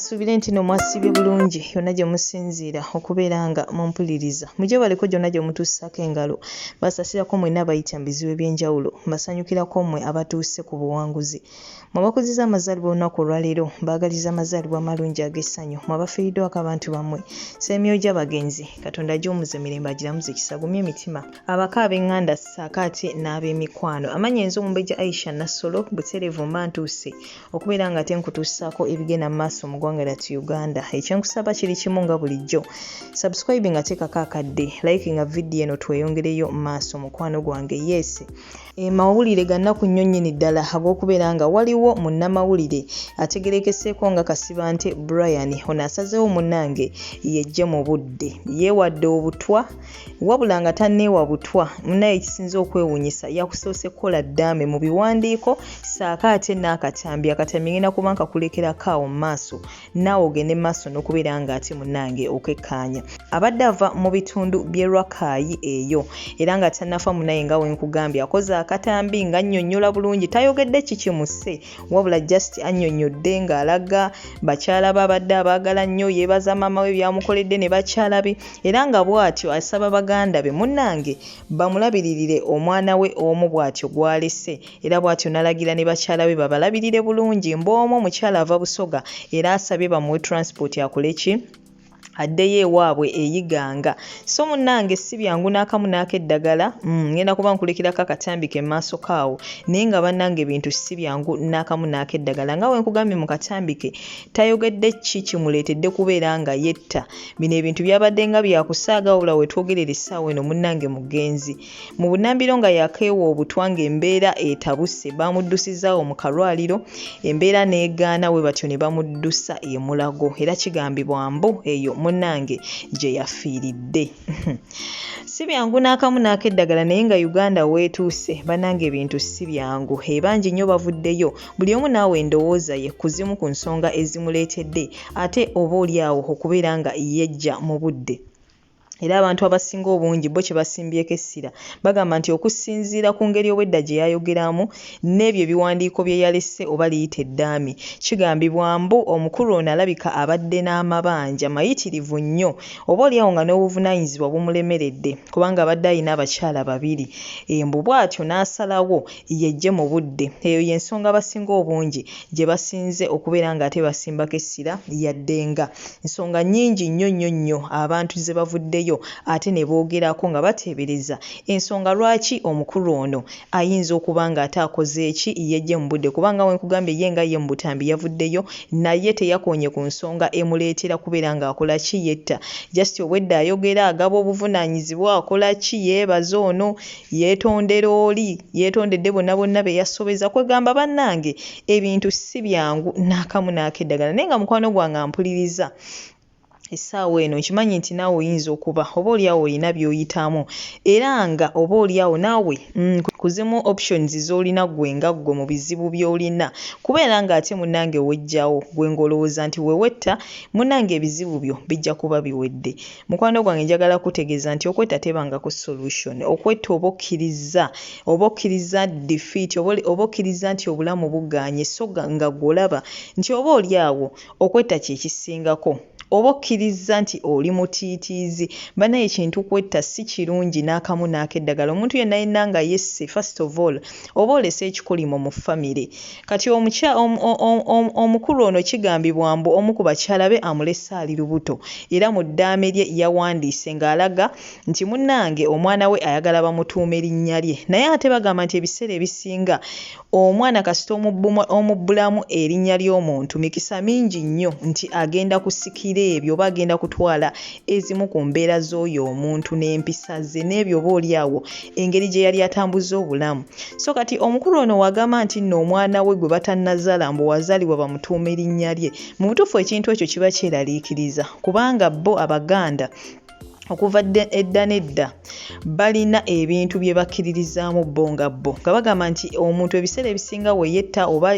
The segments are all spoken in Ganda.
nsuubire nti no mwasibye bulungi yonna gye musinziira okubeera nga mumpuliriza mujebaleko gyonna gye mutuusako engalo basasirako mwenna abayita mu bizibu eby'enjawulo mbasanyukirako mmwe abatuuse ku buwanguzi Mwe abakuziza amazaalibwa olunaku olwaleero mbaagaliza amazaalibwa amalungi ag'essanyu. Mwe abafiiriddwako abantu bammwe sseemyoyo gy'abagenzi Katonda agiwummuze mirembe agiramuze kisa agumye emitima. Abako ab'enganda ssaako ate n'ab'emikwano. Amannya enze Omumbejja Aisha Nassolo butereevu mba ntuuse okubeera ng'ate nkutuusaako ebigenda mu maaso mu ggwanga lyattu Uganda. Ekyenkusaba kiri kimu nga bulijjo. Subscribinga teekako akadde, likinga vidiyo eno tweyongereyo mu maaso mukwano gwange. Yes. E mawulire gannaku nnyo nnyini ddala ag'okubeera nga waliwo munnamawulire ategerekeseeko nga Kasibante Brian ono asazeewo munnange yejje mu budde yeewadde obutwa wabula nga tanneewa butwa munaye ekisinze okwewunyisa yakusoose kukola ddaame mu biwandiiko saako ate n'akatambi akatambi ngenda kuba nkakulekerako awo mu maaso naawe ogende maaso n'okubeera nga ate munnange okekkaanya abadde ava mu bitundu by'e rwakaayi eyo era nga tannafa munaye nga wenkugambye akoze akatambi nga annyonnyola bulungi tayogedde kikimuse wabula just annyonnyodde ng'alaga bakyala be abadde abaagala nnyo yeebaza maama we byamukoledde ne bakyala be era nga bw'atyo asaba baganda be munnange bamulabiririre omwana we omu bw'atyo gw'alese era bw'atyo n'alagira ne bakyala be babalabirire bulungi mboomu omukyala ava busoga era asabye bamuwe transport akole ki addeyo ewaabwe eyiganga so munnange si byangu n'akamu n'akeddagala mm, ngenda kuba nkulekirako akatambi ke maaso kaawo naye nga bannange ebintu si byangu n'akamu n'akeddagala nga we nkugambye mu katambi ke tayogedde ki kimuleetedde kubeera nga yetta bino ebintu byabadde nga byakusaaga wabula wetwogerera essaawa eno munnange mugenzi Mu bunambiro nga yakeewa obutwa ng'embeera etabuse baamuddusizaawo mu kalwaliro embeera n'egaana bwe batyo ne bamuddusa e Mulago era kigambibwa mbu eyo munnange gye yafiiridde. Si byangu n'akamu n'ak'eddagala naye nga Uganda weetuuse bannange ebintu si byangu ebangi nnyo bavuddeyo buli omu naawe endowooza ye ku zimu ku nsonga ezimuleetedde ate oba oli awo okubeera nga yeggya mu budde. era abantu abasinga obungi bo kye basimbyeko essira bagamba nti okusinziira ku ngeri obwedda gye yayogeramu n'ebyo ebiwandiiko bye yalese oba liyita eddaame kigambibwa mbu omukulu ono alabika abadde n'amabanja mayitirivu nnyo oba olyawo nga n'obuvunaanyizibwa bumulemeredde kubanga abadde alina abakyala babiri e mbu bw'atyo n'asalawo yeggye mu budde eyo y'ensonga abasinga obungi gye basinze okubeera ng'ate basimbako essira yadde nga nsonga nnyingi nnyo nnyo nnyo abantu ze bavuddeyo ate ne boogerako nga bateebereza ensonga lwaki omukulu ono ayinza okuba ng'ate akoze ki ye Gen. Budde kuba nga bwe nkugambye ye nga ye mu butambi yavuddeyo naye teyakoonye ku nsonga emuleetera kubeera ng'akola ki yetta just obwedda ayogera agaba obuvunaanyizibwa akola ki yeebaza ono Yeetondera oli, yeetondedde bonna bonna be yasobeza kwegamba bannange ebintu si byangu n'akamu n'akeddagala naye nga mukwano gwange ampuliriza essaawa eno nkimanyi nti naawe oyinza okuba oba oli awo olina by'oyitamu era nga oba oli awo naawe mm, kuzimu options z'olina ggwe nga ggwe mu bizibu by'olina kubeera ng'ate munnange wejjawo ggwe ng'olowooza nti we wetta munnange ebizibu byo bijja kuba biwedde. Mukwano gwange njagala kutegeeza nti okwetta tebangako solution. Okwetta oba okkirizza, oba okkirizza defeat, oba okkirizza nti obulamu bugaanye so nga gwe olaba nti oba oli awo okwetta kye kisingako. Oba okkirizza nti oli mutiitiizi. Banaye ekintu kwetta si kirungi n'akamu n'akeddagala. Omuntu yenna yenna nga yesse first of all oba olese ekikolimo mu famire kati omukulu ono kigambibwa mbu omu ku bakyala be amulese ali lubuto era mu ddaame lye yawandiise ng'alaga nti munnange omwana we ayagala bamutuume linnya lye naye ate bagamba nti ebiseera ebisinga omwana kasita omubbulamu erinnya ly'omuntu mikisa mingi nnyo nti agenda kusikira ebyo oba agenda kutwala ezimu ku mbeera z'oyo omuntu n'empisa ze n'ebyo oba oli awo engeri gye yali atambuzza obulamu so kati omukulu ono wagamba nti nno omwana we gwe batannazala mbu wazaalibwa bamutuuma erinnya lye mu butuufu ekintu ekyo kiba kyeraliikiriza kubanga bo abaganda okuva edda nedda balina ebintu bye bakkiririzaamu bo nga bo nga bagamba nti omuntu ebiseera ebisinga we yetta oba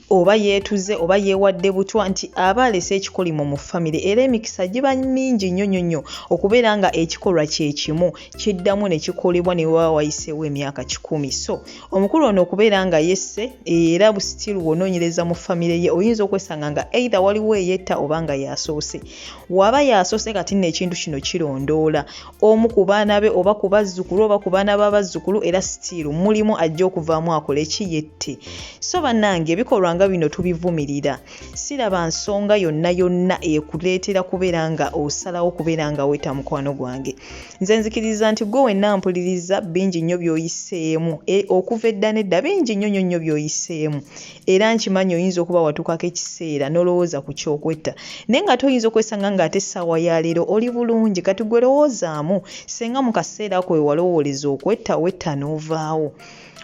oba yeetuze oba yeewadde butwa nti aba alese ekikolimo mu famire era emikisa giba mingi nnyo nnyo nnyo okubeera nga ekikolwa kye kimu kiddamu ne kikolebwa ne waba wayiseewo emyaka kikumi so omukulu ono okubeera nga yesse era busitiru wonoonyereza mu famire ye oyinza okwesanga nga eitha waliwo eyetta oba nga yasoose waba yasoose kati nno ekintu kino kirondoola omu ku baana be oba ku bazzukulu oba ku baana b'abazzukulu era sitiiru mulimu ajja okuvaamu akola eki yette so bannange ebikolwa nga bino tubivumirira siraba nsonga yonna yonna ekuleetera kubeera nga osalawo kubeera nga weta mukwano gwange nze nzikiriza nti gwe wenna mpuliriza bingi nnyo by'oyiseemu e, okuva edda nedda bingi nnyo nnyo nnyo by'oyiseemu era nkimanyi oyinza okuba watuukako ekiseera n'olowooza ku kyokwetta naye ng'ate oyinza okwesanga ng'ate essaawa ya leero oli bulungi kati gwe lowoozaamu senga mu kaseera ako we walowooleza okwetta wetta n'ovaawo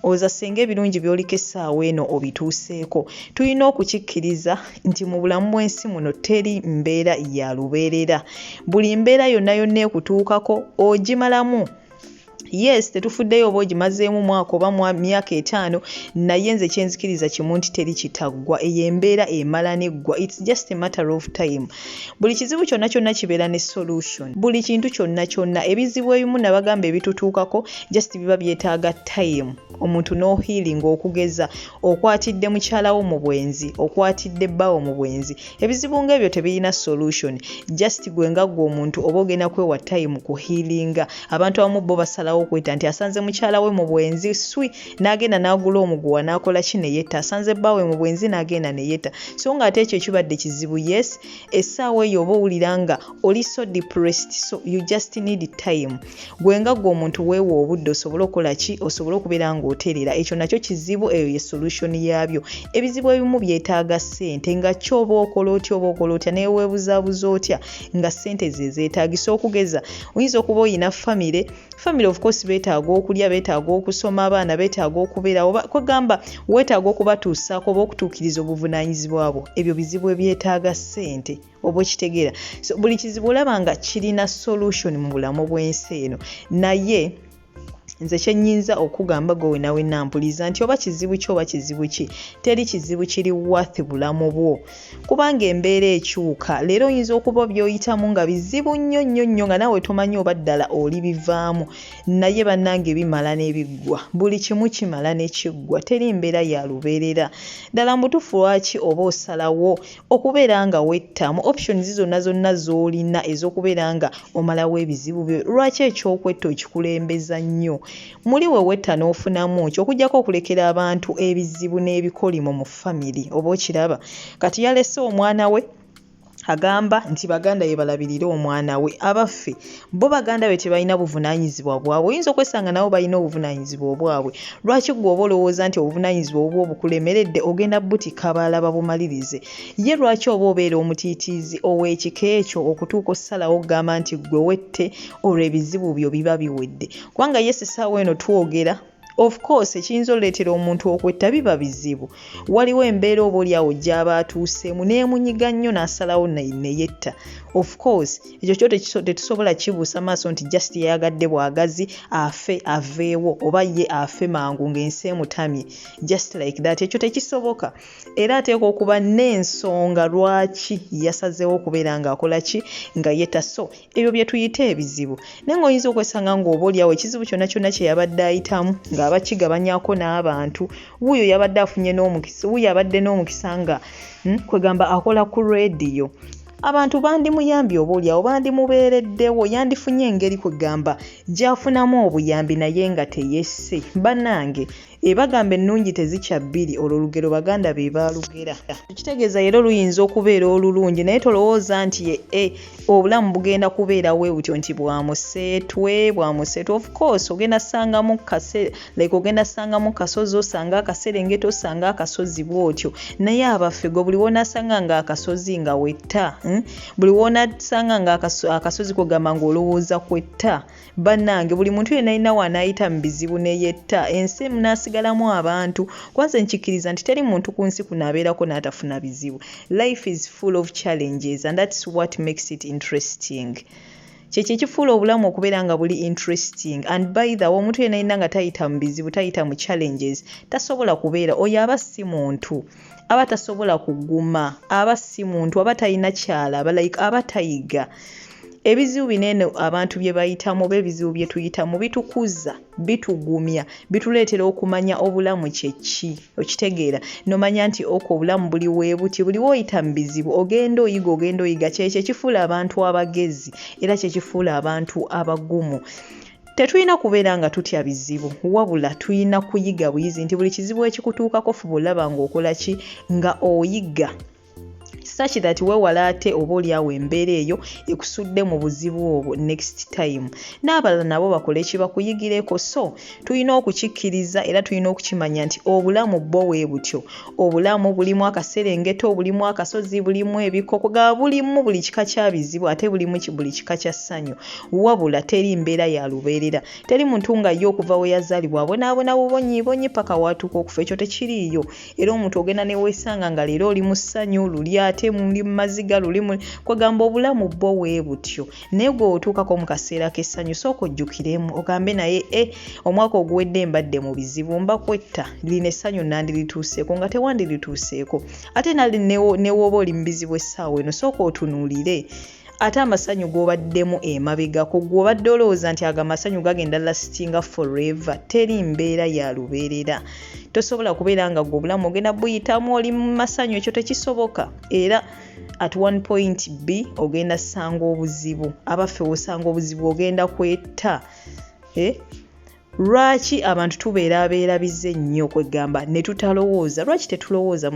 oza senga ebirungi byoliko essaawa eno obituuseeko tulina okukikkiriza nti mu bulamu bw'ensi muno teri mbeera ya lubeerera buli mbeera yonna yonna ekutuukako ogimalamu yes tetufuddeyo oba ogimazeemu mwaka oba myaka etaano naye nze kyenzikiriza kimu nti teri kitaggwa eyo embeera emala neggwa its just a matter of time buli kizibu kyonna kyonna kibeera ne solution buli kintu kyonna kyonna ebizibu ebimu nabagamba ebitutuukako just biba byetaaga time omuntu nohealing okugeza okwatidde mukyalawo mu bwenzi okwatidde bbawo mu bwenzi ebizibu nga ebyo tebirina solution just gwe nga gwe omuntu oba ogenda kwewa time ku healinga abantu abamu bo basalawo okweta nti asanze mukyala we mu bwenzi swi n'agenda n'agula omuguwa n'akola ki neyetta asanze bbaawe mu bwenzi n'agenda neyetta so nga ate ekyo kibadde kizibu yes essaawa eyo oba owulira nga oli so depressed so you just need time gwe nga gwe omuntu weewa obudde osobole okukola ki osobole okubeera ng'oterera ekyo nakyo kizibu eyo ye solution yaabyo ebizibu ebimu byetaaga ssente nga kyoba okola otya oba okola otya neweebuzaabuza otya nga ssente ze zeetaagisa okugeza oyinza okuba olina famire famire of course beetaaga okulya beetaaga okusoma abaana beetaaga okubeera oba kwegamba weetaaga okubatuusaako oba okutuukiriza obuvunaanyizibwa bwo ebyo bizibu ebyetaaga ssente oba okitegeera so buli kizibu olaba nga kirina solution mu bulamu bw'ensi eno naye nze kyenyinza okugamba gwe wenawe nampuliza nti oba kizibu ki oba kizibu ki teri kizibu kiri wath bulamu bwo kubanga embeera ekyuka leero oyinza okuba byoyitamu nga bizibu nnyo nnyo nnyo nga nawe tomanyi oba ddala oli bivaamu naye bannange bimala nebiggwa buli kimu kimala nekiggwa teri mbeera ya lubeerera ddala mubutufu lwaki oba osalawo okubeera nga wetta mu options zonna zonna z'olina ez'okubeera nga omalawo ebizibu byo lwaki ekyokwetta okikulembeza nnyo muli we wetta n'ofunamu ki okugyako okulekera abantu ebizibu n'ebikolimo mu family oba okiraba kati yalese omwana we agamba nti baganda be balabirire omwana we abaffe bo baganda be tebalina buvunaanyizibwa bwabwe oyinza okwesanga nabo balina obuvunaanyizibwa obwabwe lwaki gwe oba olowooza nti obuvunaanyizibwa obubwa obukulemeredde ogenda butikka balaba bumalirize ye lwaki oba obeera omutiitiizi ow'ekika ekyo okutuuka ossalawo okugamba nti gwe wette olwo ebizibu byo biba biwedde kubanga yesi saawa eno twogera of course ekiyinza oleetera omuntu okwetta biba bizibu waliwo embeera oba olyawo gyaba atuuseemu neemunyiga nnyo n'asalawo neyetta of course ekyo kyo tetusobola kibuusa maaso nti just yayagadde bwagazi afe aveewo oba ye afe mangu ng'ensi emutamye just like that ekyo tekisoboka era ateekwa okuba n'ensonga lwaki yasazeewo okubeera ng'akola ki nga yetta so ebyo bye tuyita ebizibu naye ng'oyinza okwesanga ng'oba olyawo ekizibu kyonna kyonna kye yabadde ayitamu ng'aba kigabanyako n'abantu wuuyo yabadde afunye n'omukisa wuuyo abadde n'omukisa nga hmm, kwegamba akola ku rediyo abantu bandimuyambye oba olyawo bandimubeereddewo yandifunye engeri kwegamba gyafunamu obuyambi naye nga teyesse bannange Ebagamba ennungi tezikya bbiri olwo olugero baganda be baalugera. Ekitegeeza leero luyinza okubeera olulungi naye tolowooza nti ye e obulamu bugenda kubeera we butyo nti bwa museetwe bwa museetwe of course ogenda sangamu kase like ogenda sangamu kasozi osanga akaserengeta osanga akasozi bw'otyo naye abaffe gwe buli woonasanga nga akasozi nga wetta hmm? buli woonasanga nga akasozi kwegamba ng'olowooza kwetta bannange buli muntu yena alina waanaayita mu bizibu ne yetta ensi emu n'asigalamu abantu kwanze nkikkiriza nti teri muntu ku nsi kuno abeerako n'atafuna bizibu life is full of challenges and that's what makes it interesting kyekyo ekifuula obulamu okubeera nga buli interesting and by the way omuntu yena yena nga tayita mu bizibu tayita mu challenges tasobola kubeera oyo aba si muntu aba tasobola kuguma aba si muntu aba talina kyalaba like aba tayiga ebizibu binene abantu bye bayitamu oba ebizibu bye tuyitamu bitukuza bitugumya bituleetera okumanya obulamu kyeki okitegeera nomanya nti oko obulamu buli webuti buli woyita mu bizibu ogenda oyiga ogenda oyiga kyekyo ekifuula abantu abagezi era kyekifuula abantu abagumu Tetulina kubeera nga tutya bizibu wabula tulina kuyiga buyizi nti buli kizibu ekikutuukako fuba olaba ng'okola ki nga oyiga such that wewala ate oba olyawo embeera eyo ekusudde mu buzibu obwo next time n'abalala nabo bakole ekibakuyigireko so tulina okukikkiriza era tulina okukimanya nti obulamu bwo wee butyo obulamu bulimu akaserengeto bulimu akasozi bulimu ebikoko ga bulimu buli kika kya bizibu ate bulimu buli kika kya ssanyu wabula teri mbeera ya lubeerera teri muntu nga ye okuva we yazaalibwa abonaabona bubonyiibonyi paka waatuuka okufa ekyo tekiriiyo era omuntu ogenda neweesanga nga leero oli mu ssanyu luli ate muli mu maziga luli kwegamba obulamu bwo wee butyo naye gwe otuukako mu kaseera k'essanyu sooka ojjukiremu ogambe naye e omwaka oguwedde mbadde mu bizibu mba kwetta lino essanyu nandirituuseeko nga tewandirituuseeko ate nali newooba oli mu bizibu essaawa eno sooka otunuulire ate amasanyu g'obaddemu emabegako gwe obadde olowooza nti ago amasanyu gagenda lastinga forever teri mbeera ya lubeerera tosobola kubeera nga gwe obulamu ogenda buyitamu oli mu masanyu ekyo tekisoboka era at one point b ogenda sanga obuzibu abaffe wosanga obuzibu ogenda kwetta eh? lwaki abantu tubeera abeerabize nnyo kwegamba ne tutalowooza lwaki tetulowooza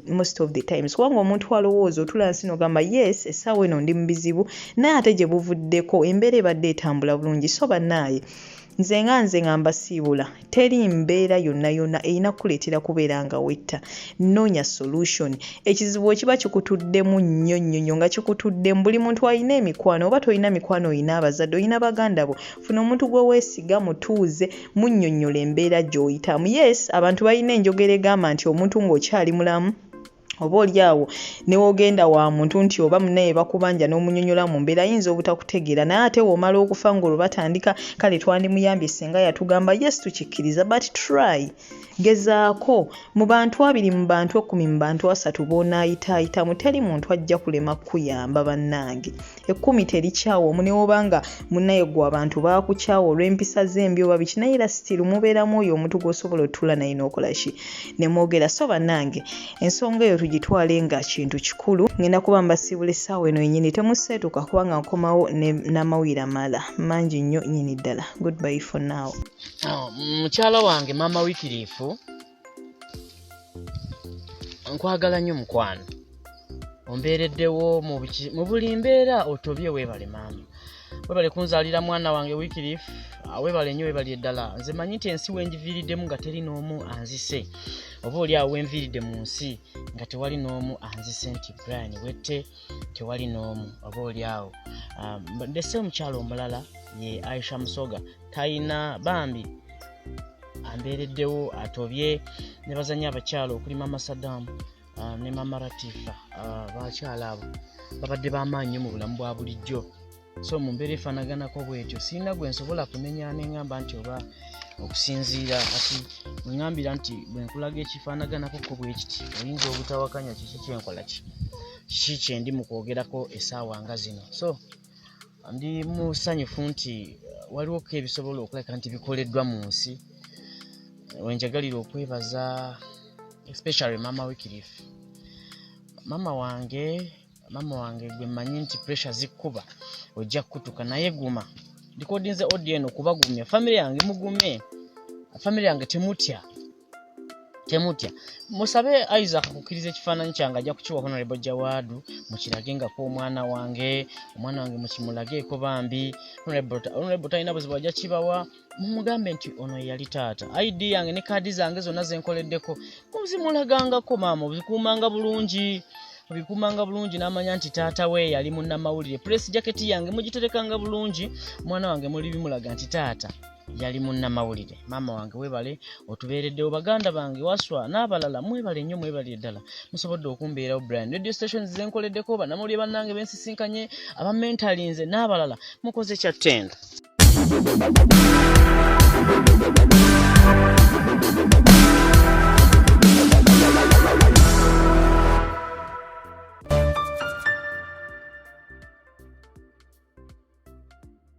most of the times kubanga omuntu alowooza otula nsi nogamba yes essaawa eno ndi mu bizibu naye ate gye buvuddeko embeera ebadde etambula bulungi so banaaye nze nga nze nga mbasiibula teri mbeera yonna yonna erina kukuleetera kubeera nga wetta noonya solution ekizibu ekiba kikutuddemu nnyo nnyo nnyo nga kikutuddemu buli muntu alina emikwano oba tolina mikwano olina abazadde olina baganda bo funa omuntu gwe weesiga mutuuze munnyonnyola embeera gy'oyitamu yes abantu balina enjogera egamba nti omuntu ng'okyali mulamu oba oli awo newogenda wa muntu nti oba munaye bakubanja n'omunyonyola mu mbeera ayinza obutakutegeera naye ate womala okufa ng'olwo batandika kale twandimuyambye singa yatugamba yes tukikkiriza but try gezaako mu bantu abiri mu bantu ekkumi mu bantu asatu boonaayitaayitamu teri muntu ajja kulema kukuyamba bannange ekkumi terikyawa omu newoba nga munaye gwe abantu bakukyawa olw'empisa zembi oba biki naye era sitiru mubeeramu oyo omuntu gwosobola otuula naye nokola ki nemwogera so banange ensonga eyo tugitwale nga kintu kikulu ngenda kuba mbasiibula essaawa eno yenyini temuseetuka kubanga nkomawo n'amawulire amala mangi nnyo nyini ddala goodby for now ah, mukyala wange maama wikiriifu nkwagala nnyo mukwano ombeereddewo mu buli mbeera otobye weebale maama webale kunzalira mwana wange wikirif ah, webale nyo webali eddala nze manyi nti ensi wenjiviiriddemu nga teri n'omu anzise oba oli awo wenviiridde mu nsi nga tewali n'omu anzise nti brian wette tewali n'omu oba oli awo ah, ndese omukyalo omulala ye aisha musoga tayina bambi ambeereddewo atobye ne bazanya abakyala okuli mama sadamu ah, ne mama ratifa ah, bakyala abo babadde bamaanyi mu bulamu bwa bulijjo so mu mbeera efaanaganako bwetyo sirina gwe nsobola kunenya neŋamba nti oba okusinziira kati weŋambira nti bwe nkulaga ekifaanaganako ko bwe kiti oyinza obutawakanya kiki kyenkola ki kiki kyendi mu kwogerako essaawa nga zino so Ndi musanyufu nti waliwo ko ebisobola okulabika nti bikoleddwa mu nsi wenjagalira okwebaza especially mama wikirif mama wange mama wange gwe mmanyi nti pressure zikkuba ojja kukutuka naye guma ndikodinze odi eno kubagumya famiry yange mugume famiry yange temutya temutya musabe isaac kukkiriza ekifaananyi kyange ajja kukiwa honorable jawaadu mukirage nga ku omwana wange omwana wange mukimulageeko bambi honorable talina buzibu ajja kibawa mumugambe nti ono yeyali taata id yange ne kaadi zange zonna zenkoleddeko muzimulagangako maama obikuumanga bulungi obikuumanga bulungi n'amanya nti taata we yali munnamawulire pulesi jaketi yange mugiterekanga bulungi omwana wange muli bimulaga nti taata yali munnamawulire maama wange webale otubeereddewo baganda bange waswa n'abalala mwebale nnyo mwebale eddala musobodde okumbeerawo brian radio station zenkoleddeko banamawulire bannange bensisinkanye aba mentalinze n'abalala mukoze kyattendo